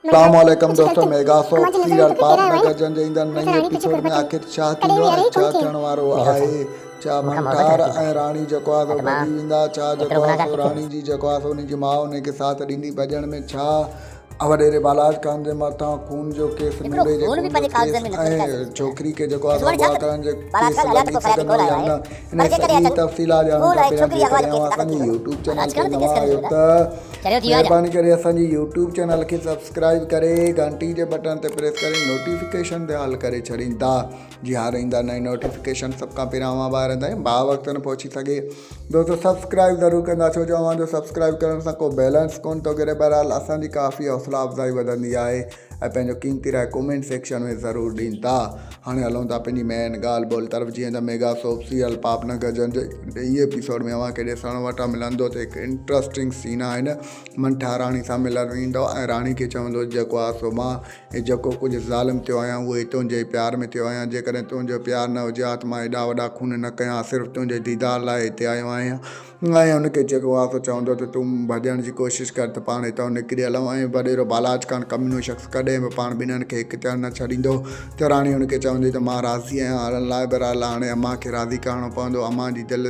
سلام عليڪم دوستو ميگا سوپ سيريل پاپ نگر جن جي ايندڙ نئين ايپيسوڊ ۾ آخر ڇا ٿيندو ۽ ڇا ٿيڻ وارو آهي ڇا منٺار ۽ راڻي جيڪو آهي سو ڀڄي ويندا ڇا جيڪو آهي سو راڻي جي جيڪو آهي سو ان جي ماء ان کي ساٿ ڏيندي ڀڄڻ ۾ ڇا وڏيري بالاچ خان جي مٿان خون جو ڪيس نوري جي خون جو ڪيس ۽ ڇوڪري کي جيڪو آهي سو اغوا ڪرڻ جي ڪيس لڳي سگهندو يا نه انهيء سڄي جي تفصيلات ڄاڻڻ کان پهريان جيڪڏهن اوهان اسان جي يوٽيوب چينل تي نوان آهيو ته مهرباني ڪري اسان جي يوٽيوب چينل کي سبسڪرائيب ڪري گهنٽي جي بٽڻ تي پريس ڪري نوٽيفڪيشن به آل ڪري ڇڏيندا جي هر ايندا نئين نوٽيفڪيشن سڀ کان پهريان اوهان ٻاهرن تائين با وقت نه پهچي سگهي دوستو سبسڪرائيب ضرور ڪندا ڇو جو اوهان جو سبسڪرائيب ڪرڻ سان ڪو بيلنس ڪونه ٿو گهري بهرحال اسان جي ڪافي حوصلا افزائي وڌندي آهي ۽ پنهنجو قيمتي راء ڪومينٽ سيڪشن ۾ ضرور ڏين ٿا هاڻي هلون ٿا پنهنجي مين ڳالهه ٻولهه طرف جيئن ته ميگا سوپ سيريل پاپ نه گجن جي ڏهين ايپيسوڊ ۾ اوهان کي ڏسڻ وٽ ملندو ته هڪ انٽرسٽنگ سين آهي نه منٺا راڻي سان ملڻ ايندو ۽ راڻي کي چوندو جيڪو آهه سو مان هي جيڪو ڪجهه ظالم ٿيو آهيان اهو هي تنهنجي ئي پيار ۾ ٿيو آهيان جيڪڏهن تنهنجو پيار نه هجي ها ته مان هيڏا وڏا خون نه ڪيا ها صرف تنهنجي ديدار لاء هتي آيو آهيان آء هن کي چيو ته اها ته چوندو ته تون ڀڄڻ جي ڪوشش ڪر ته پاڻ هتان نڪري هلون ۽ وڏيرو بالاچ خان ڪمينو شخص ڪڏهن به پاڻ ٻنهن کي هڪ ٿيڻ نه ڇڏيندو ته راڻي هن کي چوندي ته مان راضي آهيان هلڻ لاء بهرحال هاڻي امان کي راضي ڪرڻو پوندو امان جي دل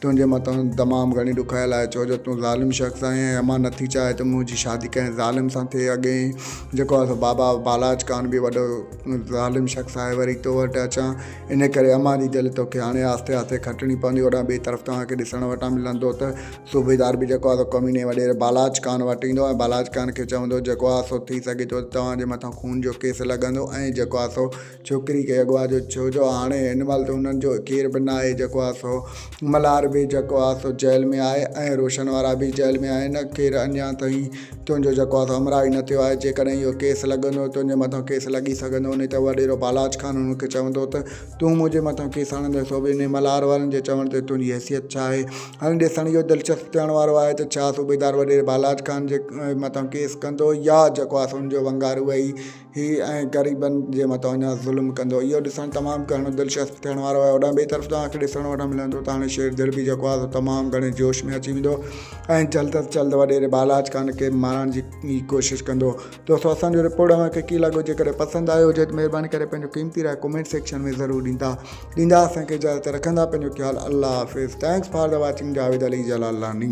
تنهنجي مٿان تمام گهڻي ڏکايل آهي ڇو جو تون ظالم شخص آهين ۽ امان نٿي چاهي ته منهنجي شادي ڪنهن ظالم سان ٿئي اڳي جيڪو آهي سو بابا بالاچ خان به وڏو ظالم شخص آهي وري تو وٽ اچان ان ڪري امان جي دل توکي هاڻي آهستي آهستي کٽڻي پوندي. اوڏانهن ٻئي طرف توهان کي ڏسڻ وٽان ملندو ته صوبيدار به جيڪو آهي سو ڪميني وڏيري بالاچ خان وٽ ايندو ۽ بالاچ خان کي چوندو جيڪو آهي سو ٿي سگهي ٿو ته توهان جي مٿان خون جو ڪيس لڳندو ۽ جيڪو آهي سو ڇوڪري کي اغوا جو ڇو جو هاڻي هن مهل ته هنن جو ڪير به ناهي جيڪو آهي سو ملهار به جيڪو آ سو جيل ۾ آهي ۽ روشن وارا به جيل ۾ آهن. ڪير اڃان تائين تنهنجو جيڪو آ سو همراهه ئي نه ٿيو آهي. جيڪڏهن اهو ڪيس لڳندو ته تنهنجي مٿان ڪيس لڳي سگهندو هونئن ته وڏيرو بالاچ خان هن کي چوندو ته تون منهنجي مٿان ڪيس آڻيندين سو به انهي ملهار وارن جي چوڻ تي تنهنجي حيثيت ڇا آهي؟ هاڻي ڏسڻ اهو دلچسپ ٿيڻ وارو آهي ته ڇا صوبيدار وڏيري بالاچ خان جي مٿان ڪيس ڪندو يا جيڪو آ سو ان جو ونگار اهي ئي هي ائين غريبن جي مٿان اڃا ظلم ڪندو. اهو ڏسڻ تمام گهڻو دلچسپ ٿيڻ وارو آهي. هوڏانهن ٻئي طرف توهان کي ڏسڻ وٽان ملندو ته هاڻي شير دڙبي جيڪو آهي سو تمام گهڻي جوش ۾ اچي ويندو ۽ جلد از جلد وڏيري بالاچ خان کي مارڻ جي ئي ڪوشش ڪندو. دوستو اسان جو رپورٽ اوهان کي ڪيئن لڳو جيڪڏهن پسند آيو هجي ته مهرباني ڪري پنهنجو قيمتي راء ڪمينٽ سيڪشن ۾ ضرور ڏيندا ڏيندا اسان کي اجازت رکندا پنهنجو خيال الله حافظ thanks for the watching Javed Ali Jalalani.